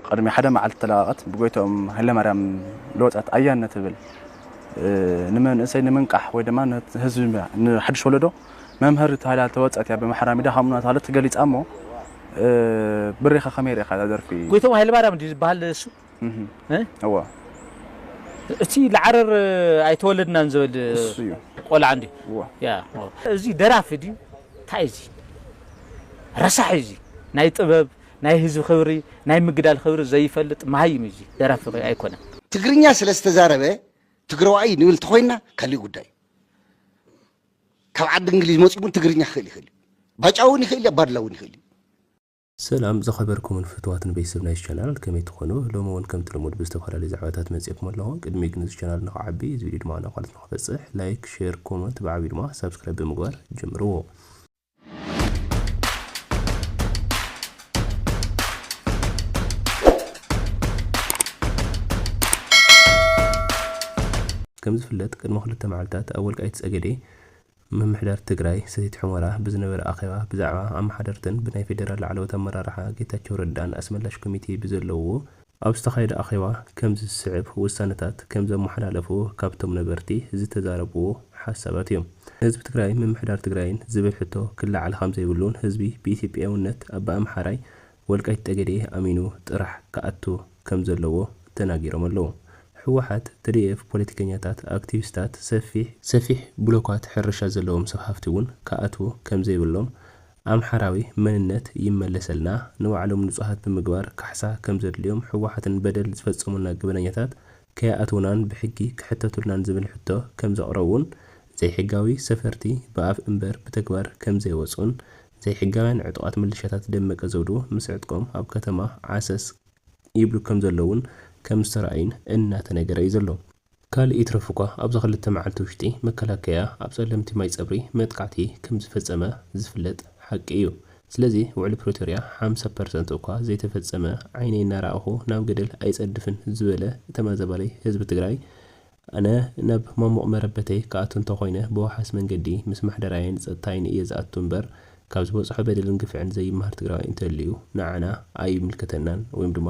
ቅድሚ ሓደ መዓልቲ ተለቓቐት ብጎይትኦም ሃይለማርያም ልወጸት ኣያን እትብል ንመንእሰይ ንምንቃሕ ወይ ድማ ንህዝቢ ንሓድሽ ወለዶ መምሀሪ ተባሂላ ልተወጸት እያ ብምሓራ ሚድያ ከምኡ እናተባህለት ተገሊጻ እሞ ብሬኻ ከመይ ሪኢኻ እዛ ደርፊ? ጎይትኦም ሃይለማርያም ድዩ ዝባሃል ንሱ? እወ። እቲ ልዓረር ኣይተወለድናን ዝብል ንሱ እዩ። ቆልዓ እንድዩ። እወ። ያ። እዚ ደራፊ ድዩ ታይ እዚ ረሳሕ እዩ እዚ ናይ ጥበብ ናይ ህዝቢ ክብሪ ናይ ምግዳል ክብሪ ዘይፈልጥ መሃይም እዩ እዚ ደራፊ ከ ኣይኮነን። ትግርኛ ስለ ዝተዛረበ ትግረዋይ እዩ ንብል ተኾይንና ካሊእ ጉዳይ እዩ። ካብ ዓዲ እንግሊዝ መፂኡ እውን ትግርኛ ክኽእል ይኽእል እዩ። ባጫ እውን ይኽእል እዩ ኣባዱላ እውን ይኽእል እዩ። ሰላም ዝኸበርኩምን ፍትዋትን ቤተሰብ ናይዚ ቻናል ከመይ ትኾኑ ሎሚ ውን ከምቲ ልሙድ ብዝተፈላለዩ ዛዕባታት መፂኤኩም ኣለኹ ቅድሚ ግን እዚ ቻናል ንኽዓቢ እዚ ቪድዮ ድማ ናብ ካልኦት ንኽበፅሕ ላይክ ሼር ኮመንት ብዓብዩ ድማ ሳብስክራይብ ብምግባር ጀምርዎ። ከም ዝፍለጥ ቅድሚ ክልተ መዓልታት ኣብ ወልቃይት ፀገዴ ምምሕዳር ትግራይ ሰቲት ሑመራ ብዝነበረ ኣኼባ ብዛዕባ ኣመሓደርትን ብናይ ፌዴራል ላዕለዎት ኣመራርሓ ጌታቸው ረዳን ኣስመላሽ ኮሚቴ ብዘለውዎ ኣብ ዝተኻየደ ኣኼባ ከምዚ ዝስዕብ ውሳነታት ከም ዘመሓላለፉ ካብቶም ነበርቲ ዝተዛረብዎ ሓሳባት እዮም። ንህዝቢ ትግራይን ምምሕዳር ትግራይን ዝብል ሕቶ ክለዓል ከምዘይብሉን ህዝቢ ብኢትዮጵያዊነት ኣብ ኣምሓራይ ወልቃይት ጠገዴ ኣሚኑ ጥራሕ ክኣቱ ከምዘለዎ ተናጊሮም ኣለው። ህወሓት፣ ትዲኤፍ፣ ፖለቲከኛታት፣ ኣክቲቪስታት፣ ሰፊሕ፣ ሰፊሕ ብሎካት ሕርሻ ዘለዎም ሰብ ሃፍቲ እውን ክኣትዉ ከምዘይብሎም ኣምሓራዊ መንነት ይመለሰልና ንባዕሎም ንፁሃት ብምግባር ካሕሳ ከምዘድልዮም ህወሓትን በደል ዝፈፀሙልና ገበነኛታት ከይኣትውናን ብሕጊ ክሕተቱልናን ዝብል ሕቶ ከምዘቕረቡን ዘይሕጋዊ ሰፈርቲ ብኣፍ እምበር ብተግባር ከምዘይወፁን ዘይሕጋውያን ዕጡቓት ምልሻታት ደመቀ ዘውዱ ምስ ዕጥቆም ኣብ ከተማ ዓሰስ ይብሉ ከምዘለውን ከምዝተርኣዩን እናተነገረ እዩ ዘሎ። ካልእ ይትረፍ'ኳ ኣብዛ ክልተ መዓልቲ ውሽጢ መከላከያ ኣብ ፀለምቲ ማይ ፀብሪ መጥቃዕቲ ከምዝፈፀመ ዝፍለጥ ሓቂ እዩ። ስለዚ ውዕሊ ፕሪቶርያ ሓምሳ ፐርሰንት እኳ ዘይተፈፀመ ዓይነይ እናረኣኹ ናብ ገደል ኣይፀድፍን ዝበለ ተመዛባሊ ህዝቢ ትግራይ ኣነ ናብ ማሙቕ መረበተይ ክኣቱ እንተኾይነ ብወሓስ መንገዲ ምስ ምሕደራይን ፀጥታይን እየ ዝኣቱ እምበር ካብ ዝበፅሖ በደልን ግፍዕን ዘይመሃር ትግራዋይ እንተልዩ ንዓና ኣይምልከተናን ወይም ድማ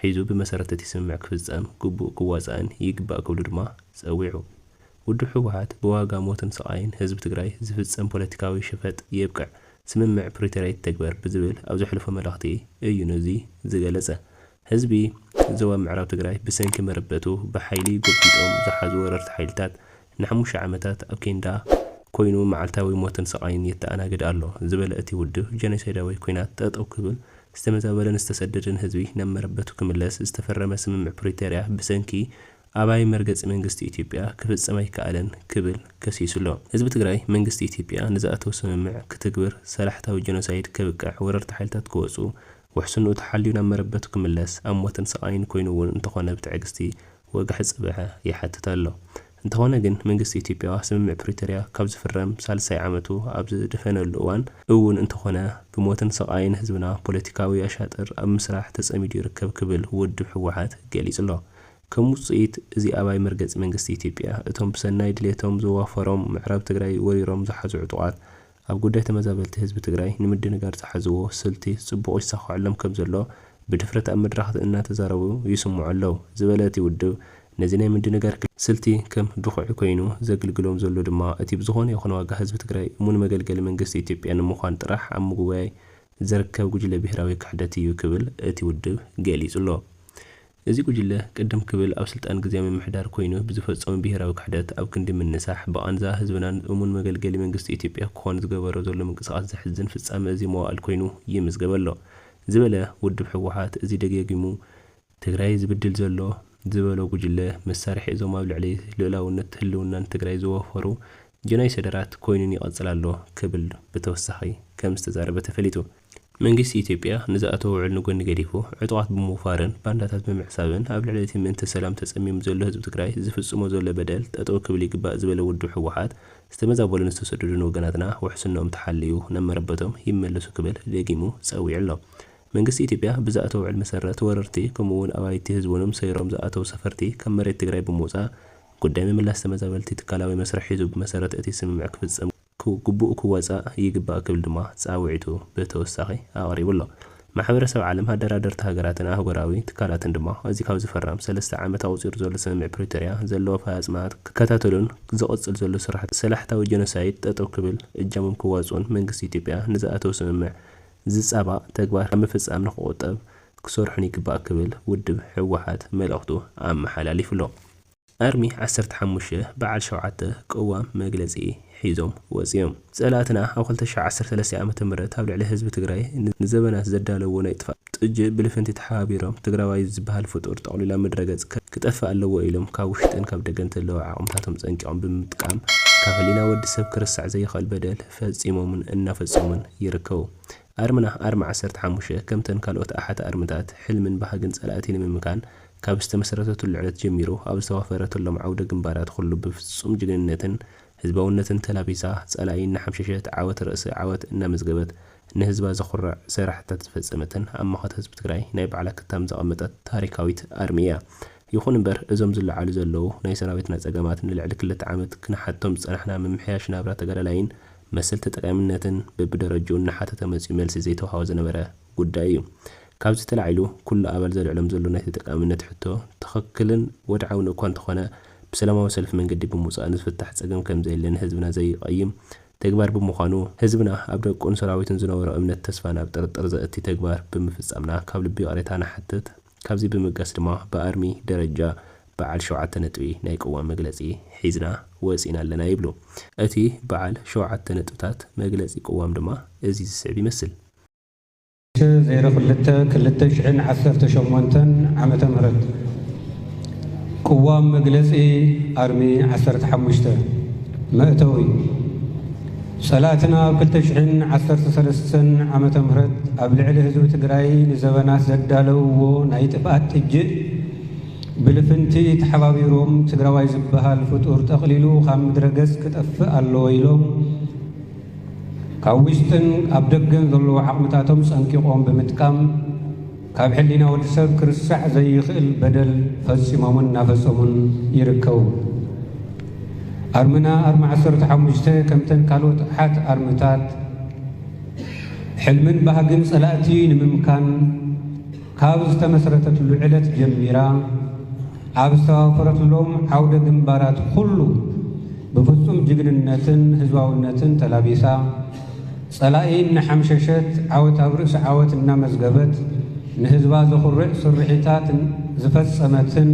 ሒዙ ብመሰረት እቲ ስምምዕ ክፍፀም ግቡእ ክዋፃእን ይግባእ ክብሉ ድማ ፀዊዑ። ውድብ ህወሓት ብዋጋ ሞትን ስቓይን ህዝቢ ትግራይ ዝፍፀም ፖለቲካዊ ሸፈጥ የብቅዕ፣ ስምምዕ ፕሪቶርያ ይተግበር ብዝብል ኣብ ዘሕለፎ መልእኽቲ እዩ ነዚ ዝገለፀ። ህዝቢ ዞባ ምዕራብ ትግራይ ብሰንኪ መረበቱ ብሓይሊ ጎቢጦም ዝሓዙ ወረርቲ ሓይልታት ንሓሙሽተ ዓመታት ኣብ ኬንዳ ኮይኑ መዓልታዊ ሞትን ስቓይን የተኣናግድ ኣሎ ዝበለ እቲ ውድብ፣ ጀኖሳይዳዊ ኲናት ጠጠው ክብል፣ ዝተመዛበለን ዝተሰደደን ህዝቢ ናብ መረበቱ ክምለስ ዝተፈረመ ስምምዕ ፕሪቶርያ ብሰንኪ ኣባይ መርገጺ መንግስቲ ኢትዮጵያ ክፍጸም ኣይከኣለን ክብል ከሲሱ'ሎ። ህዝቢ ትግራይ፣ መንግስቲ ኢትዮጵያ ንዝኣተዎ ስምምዕ ክትግብር፣ ሰላሕታዊ ጀኖሳይድ ከብቅዕ፣ ወረርቲ ሓይልታት ክወጹ፣ ውሕስንኡ ተሓልዩ ናብ መረበቱ ክምለስ፣ ኣብ ሞትን ስቓይን ኮይኑ'ውን እንተኾነ ብትዕግስቲ ወግሐ ጽብሐ ይሓትት ኣሎ። እንተኾነ ግን መንግስቲ ኢትዮጵያ ስምምዕ ፕሪቶርያ ካብ ዝፍረም ሳልሳይ ዓመቱ ኣብ ዝደፈነሉ እዋን እውን እንተኾነ ብሞትን ስቓይን ህዝብና ፖለቲካዊ ኣሻጥር ኣብ ምስራሕ ተጸሚዱ ይርከብ ክብል ውድብ ህወሓት ገሊጹ'ሎ። ከም ውጽኢት እዚ ኣባይ መርገጺ መንግስቲ ኢትዮጵያ እቶም ብሰናይ ድሌቶም ዘዋፈሮም ምዕራብ ትግራይ ወሪሮም ዝሓዙ ዕጡቓት ኣብ ጉዳይ ተመዛበልቲ ህዝቢ ትግራይ ንምድንጋር ዝሓዝዎ ስልቲ ፅቡቕ ይሳኸዐሎም ከም ዘሎ ብድፍረት ኣብ መድረኻት እናተዛረቡ ይስምዑ ኣለው ዝበለ እቲ ውድብ ነዚ ናይ ምድንጋር ስልቲ ከም ድኹዒ ኮይኑ ዘግልግሎም ዘሎ ድማ እቲ ብዝኾነ ይኹን ዋጋ ህዝቢ ትግራይ እሙን መገልገሊ መንግስቲ ኢትዮጵያ ንምዃን ጥራሕ ኣብ ምጉባይ ዝርከብ ጉጅለ ብሄራዊ ክሕደት እዩ ክብል እቲ ውድብ ገሊፁ ኣሎ። እዚ ጉጅለ ቅድም ክብል ኣብ ስልጣን ግዝያዊ ምምሕዳር ኮይኑ ብዝፈፀሞ ብሄራዊ ክሕደት ኣብ ክንዲ ምንሳሕ ብቓንዛ ህዝብናን እሙን መገልገሊ መንግስቲ ኢትዮጵያ ክኾን ዝገበሮ ዘሎ ምንቅስቓስ ዘሕዝን ፍፃመ እዚ መዋእል ኮይኑ ይምዝገብ ኣሎ ዝበለ ውድብ ህወሓት እዚ ደጋጊሙ ትግራይ ዝብድል ዘሎ ዝበሎ ጉጅለ መሳርሒ እዞም ኣብ ልዕሊ ልኡላውነት ህልውናን ትግራይ ዝወፈሩ ጀኖይሰደራት ኮይኑን ይቐፅል ኣሎ ክብል ብተወሳኺ ከም ዝተዛረበ ተፈሊጡ። መንግስቲ ኢትዮጵያ ንዝኣተዎ ውዕል ንጎኒ ገዲፉ ዕጡቓት ብምውፋርን ባንዳታት ብምዕሳብን ኣብ ልዕሊ እቲ ምእንተ ሰላም ተፀሚሙ ዘሎ ህዝቢ ትግራይ ዝፍፅሞ ዘሎ በደል ጠጠው ክብል ይግባእ ዝበለ ውድብ ህወሓት ዝተመዛበሉን ዝተሰደዱን ወገናትና ውሕስንኦም ተሓልዩ ናብ መረበቶም ይመለሱ ክብል ደጊሙ ፀዊዑ ኣሎ። መንግስቲ ኢትዮጵያ ብዝኣተዎ ውዕል መሰረት ወረርቲ ከምኡ እውን ኣባይቲ ህዝብንም ሰይሮም ዝኣተው ሰፈርቲ ካብ መሬት ትግራይ ብምውፃእ ጉዳይ ምምላስ ተመዛበልቲ ትካላዊ መስርሕ ሒዙ ብመሰረት እቲ ስምምዕ ክፍፀም ግቡኡ ክወፃእ ይግባእ ክብል ድማ ፃውዒቱ ብተወሳኺ ኣቕሪቡ ኣሎ። ማሕበረሰብ ዓለም፣ ኣደራደርቲ ሃገራትን ኣህጉራዊ ትካላትን ድማ እዚ ካብ ዝፍረም ሰለስተ ዓመት ኣቑፂሩ ዘሎ ስምምዕ ፕሪቶርያ ዘለዎ ኣፈፃፅማታት ክከታተሉን ዝቕፅል ዘሎ ስርሕቲ ሰላሕታዊ ጀኖሳይድ ጠጠው ክብል እጃሞም ክዋፅኡን መንግስቲ ኢትዮጵያ ንዝኣተዎ ስምምዕ ዝፃባእ ተግባር ካብ ምፍፃም ንክቑጠብ ክሰርሑን ይግባእ ክብል ውድብ ህወሓት መልእኽቱ ኣመሓላሊፉ ኣሎ። ኣርሚ ዓሰርተ ሓሙሽተ በዓል ሸውዓተ ቅዋም መግለፂ ሒዞም ወፂኦም። ፀላእትና ኣብ ክልተ ሽሕ ዓሰርተ ሰለስተ ዓመተ ምህረት ኣብ ልዕሊ ህዝቢ ትግራይ ንዘበናት ዘዳለውዎ ናይ ጥፍኣት ጥጅእ ብልፍንቲ ተሓባቢሮም ትግራዋይ ዝበሃል ፍጡር ጠቕሊሎም ምድረ ገፅ ክጠፍእ ኣለዎ ኢሎም ካብ ውሽጥን ካብ ደገን ተለዉ ዓቕምታቶም ፀንቂቖም ብምጥቃም ካብ ህሊና ወዲ ሰብ ክርሳዕ ዘይኽእል በደል ፈፂሞምን እናፈፀሙን ይርከቡ። ኣርምና ኣርማ ዓሰርተ ሓሙሽተ ከምተን ካልኦት ኣሓት ኣርምታት ሕልምን ባህግን ጸላእቲ ንምምካን ካብ ዝተመሰረተትሉ ዕለት ጀሚሩ ኣብ ዝተዋፈረትሎም ዓውደ ግንባራት ኹሉ ብፍጹም ጅግንነትን ህዝባውነትን ተላቢሳ ጸላኢ እናሓምሸሸት ዓወት ርእሲ ዓወት እናመዝገበት ንህዝባ ዘኹርዕ ሰራሕታት ዝፈጸመትን ኣብ መኸተ ህዝቢ ትግራይ ናይ ባዕላ ክታም ዘቐመጠት ታሪካዊት ኣርሚ እያ። ይኹን እምበር እዞም ዝለዓሉ ዘለዉ ናይ ሰራዊትና ፀገማት ንልዕሊ ክልተ ዓመት ክንሓቶም ዝፀናሕና ምምሕያሽ ናብራ ተጋዳላይን መሰል ተጠቃሚነትን በቢደረጅኡ እናሓተተ መፂኡ መልሲ ዘይተውሃቦ ዝነበረ ጉዳይ እዩ። ካብዚ ተላዒሉ ኩሉ ኣባል ዘልዕሎም ዘሎ ናይ ተጠቃሚነት ሕቶ ትኽክልን ወድዓውን እኳ እንተኾነ ብሰላማዊ ሰልፊ መንገዲ ብምውፃእ ንዝፍታሕ ፀገም ከምዘየለ ንህዝብና ዘይቐይም ተግባር ብምዃኑ ህዝብና ኣብ ደቁን ሰራዊቱን ዝነበሮ እምነት ተስፋን ኣብ ጥርጥር ዘእቲ ተግባር ብምፍፃምና ካብ ልቢ ይቕሬታ ንሓትት። ካብዚ ብምብጋስ ድማ ብኣርሚ ደረጃ በዓል ሸውዓተ ነጥቢ ናይ ቅዋም መግለፂ ሒዝና ወፂእና ኣለና ይብሉ። እቲ በዓል ሸውዓተ ነጥብታት መግለፂ ቅዋም ድማ እዚ ዝስዕብ ይመስል። ሸ ዜሮ ክልተ ክልተ ሽሕን ዓሰርተ ሸሞንተን ዓመተ ምህረት ቅዋም መግለፂ ኣርሚ ዓሰርተ ሓሙሽተ መእተዊ ፀላእትና ኣብ ክልተ ሽሕን ዓሰርተ ሰለስተን ዓመተ ምህረት ኣብ ልዕሊ ህዝቢ ትግራይ ንዘበናት ዘዳለውዎ ናይ ጥፍኣት ጥጅእ ብልፍንቲ ተሓባቢሮም ትግራዋይ ዝበሃል ፍጡር ጠቕሊሉ ካብ ምድረ ገፅ ክጠፍእ ኣለዎ ኢሎም ካብ ውሽጥን ኣብ ደገን ዘለዉ ዓቕምታቶም ፀንቂቖም ብምጥቃም ካብ ሕሊና ወዲ ሰብ ክርሳዕ ዘይኽእል በደል ፈጺሞምን እናፈጸሙን ይርከቡ። ኣርምና ኣርሚ ዓሰርተ ሓሙሽተ ከምተን ካልኦት ኣሓት ኣርምታት ሕልምን ባህግን ጸላእቲ ንምምካን ካብ ዝተመስረተትሉ ዕለት ጀሚራ ኣብ ዝተዋፈረትሎም ዓውደ ግንባራት ኩሉ ብፍጹም ጅግንነትን ህዝባውነትን ተላቢሳ ጸላኢ እናሓምሸሸት ዓወት ኣብ ርእሲ ዓወት እናመዝገበት ንህዝባ ዘኹርዕ ስርሒታት ዝፈጸመትን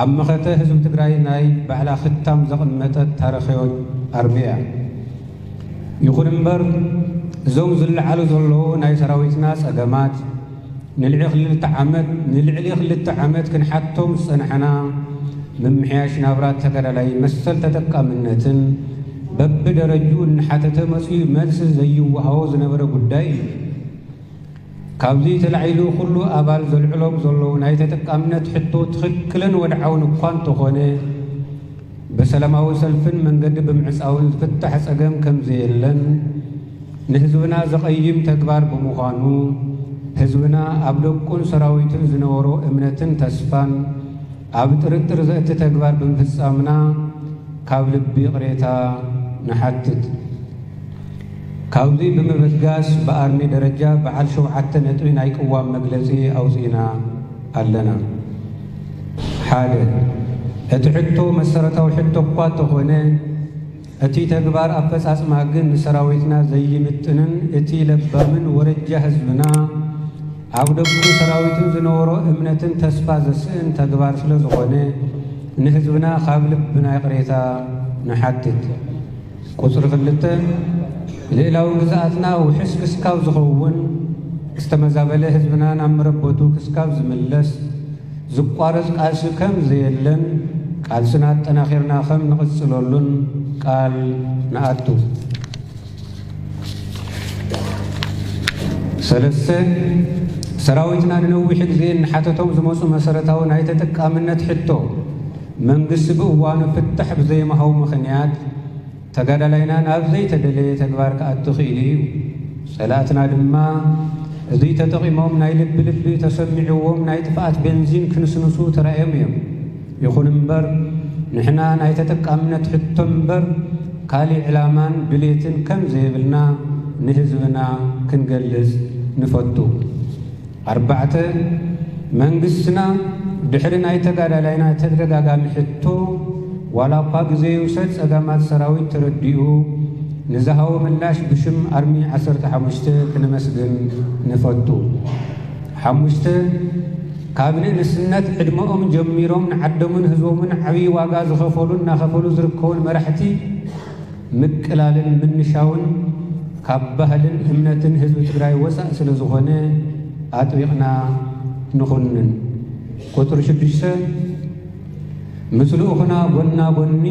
ኣብ መኸተ ህዝቢ ትግራይ ናይ ባዕላ ክታም ዘቐመጠት ታሪኽዮት ኣርሚ እያ። ይኹን እምበር እዞም ዝለዓሉ ዘለዉ ናይ ሰራዊትና ጸገማት ንልዒ ክልተ ዓመት ንልዕሊ ክልተ ዓመት ክንሓቶም ዝጸናሕና ምምሕያሽ ናብራ ተጋዳላይ መሰል ተጠቃምነትን በቢ ደረጅኡ እናሓተተ መጽዩ መልሲ ዘይወሃቦ ዝነበረ ጉዳይ እዩ። ካብዚ ተላዒሉ ኩሉ ኣባል ዘልዕሎም ዘሎ ናይ ተጠቃምነት ሕቶ ትኽክልን ወድዓውን እኳ እንተኾነ ብሰላማዊ ሰልፍን መንገዲ ብምዕጻውን ዝፍታሕ ጸገም ከምዘየለን ንህዝብና ዘቐይም ተግባር ብምዃኑ ህዝብና ኣብ ደቁን ሰራዊቱን ዝነበሮ እምነትን ተስፋን ኣብ ጥርጥር ዘእቲ ተግባር ብምፍጻምና ካብ ልቢ ይቕሬታ ንሓትት። ካብዙይ ብምብጋስ ብኣርሚ ደረጃ በዓል ሸውዓተ ነጥቢ ናይ ቅዋም መግለጺ ኣውጺእና። ኣለና ሓደ እቲ ሕቶ መሰረታዊ ሕቶ እኳ እተኾነ እቲ ተግባር ኣፈፃፅማ ግን ንሰራዊትና ዘይምጥንን እቲ ለባምን ወረጃ ህዝብና ኣብ ደቁን ሰራዊትን ዝነበሮ እምነትን ተስፋ ዘስእን ተግባር ስለዝኾነ ንህዝብና ካብ ልብና ይቕሬታ ንሓትት። ቁጽሪ ክልተ፣ ልእላዊ ግዝኣትና ውሕስ ክስካብ ዝኸውን፣ ዝተመዛበለ ህዝብና ናብ መረበቱ ክስካብ ዝምለስ፣ ዝቋረጽ ቃልሲ ከም ዘየለን ቃልስና ኣጠናኺርና ከም ንቕጽለሉን ቃል ንኣቱ። ሰለስተ፣ ሰራዊትና ንነዊሕ ግዜ እንሓተቶም ዝመጹ መሰረታዊ ናይ ተጠቃምነት ሕቶ፣ መንግስቲ ብእዋኑ ፍታሕ ብዘይምሃቡ ምኽንያት ተጋዳላይና ናብ ዘይተደለየ ተግባር ክኣቱ ክኢሉ እዩ። ፀላእትና ድማ እዙይ ተጠቒሞም ናይ ልቢ ልቢ ተሰሚዕዎም ናይ ጥፍኣት ቤንዚን ክንስንሱ ተራእዮም እዮም። ይኹን እምበር ንሕና ናይ ተጠቃምነት ሕቶ እምበር ካሊእ ዕላማን ድሌትን ከም ዘየብልና ንህዝብና ክንገልፅ ንፈቱ። ኣርባዕተ፣ መንግስትና ድሕሪ ናይ ተጋዳላይና ተደጋጋሚ ሕቶ ዋላኳ ግዘ ይውሰድ ፀገማት ሰራዊት ተረዲኡ ንዝሃቦ ምላሽ ብሽም ኣርሚ ዓሰርተ ሓሙሽተ ክነመስግን ንፈቱ። ሓሙሽተ፣ ካብ ንእስነት ዕድመኦም ጀሚሮም ንዓደሙን ህዝቦምን ዓብይ ዋጋ ዝኸፈሉን እናኸፈሉ ዝርከቡን መራሕቲ፣ ምቅላልን ምንሻውን ካብ ባህልን እምነትን ህዝቢ ትግራይ ወፃእ ስለዝኾነ ኣጥቢቕና ንኹንን። ቁፅሪ ሽዱሽተ ምስ ልኡኽና ጎና ጎኒ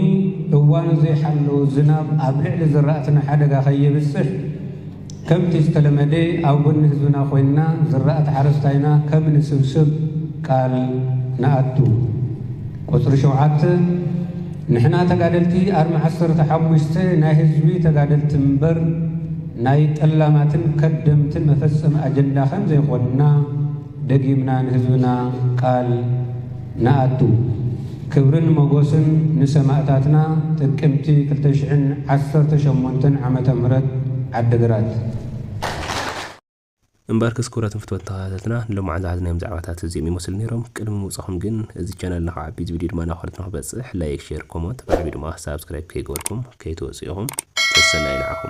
እዋኑ ዘይሓለወ ዝናብ ኣብ ልዕሊ ዝራእትና ሓደጋ ከየብፅሕ ከምቲ ዝተለመደ ኣብ ጎኒ ህዝብና ኮይንና ዝራእቲ ሓረስታይና ከም ንስብስብ ቃል ንኣቱ። ቁጽሪ ሸውዓተ፣ ንሕና ተጋደልቲ ኣርሚ ዓሰርተ ሓሙሽተ ናይ ህዝቢ ተጋደልቲ ምበር ናይ ጠላማትን ከደምትን መፈጸሚ ኣጀንዳ ከም ዘይኮንና፣ ደጊምና ንህዝብና ቃል ንኣቱ። ክብርን ሞጎስን ንሰማእታትና ጥቅምቲ ክልተ ሽሕን ዓሰርተ ሸሞንተን ዓመተ ምህረት ዓድግራት። እምበኣርከስ ክቡራትን ፍትወትን ተኸታተልትና ንሎማዓንቲ ዝሓዝናዮም ዛዕባታት እዚኦም ይመስሉ ነይሮም ቅድሚ ምውጻኹም ግን እዚ ቻነል ንኽዓቢ እዚ ቪድዮ ድማ ናብ ካልኦት ንኽበጽሕ ላይክ ሼር ኮሞንት ብዓብዩ ድማ ሳብስክራይብ ከይገበርኩም ከይትወጹ ኢኹም ሰሰናዩ ንዓኹም።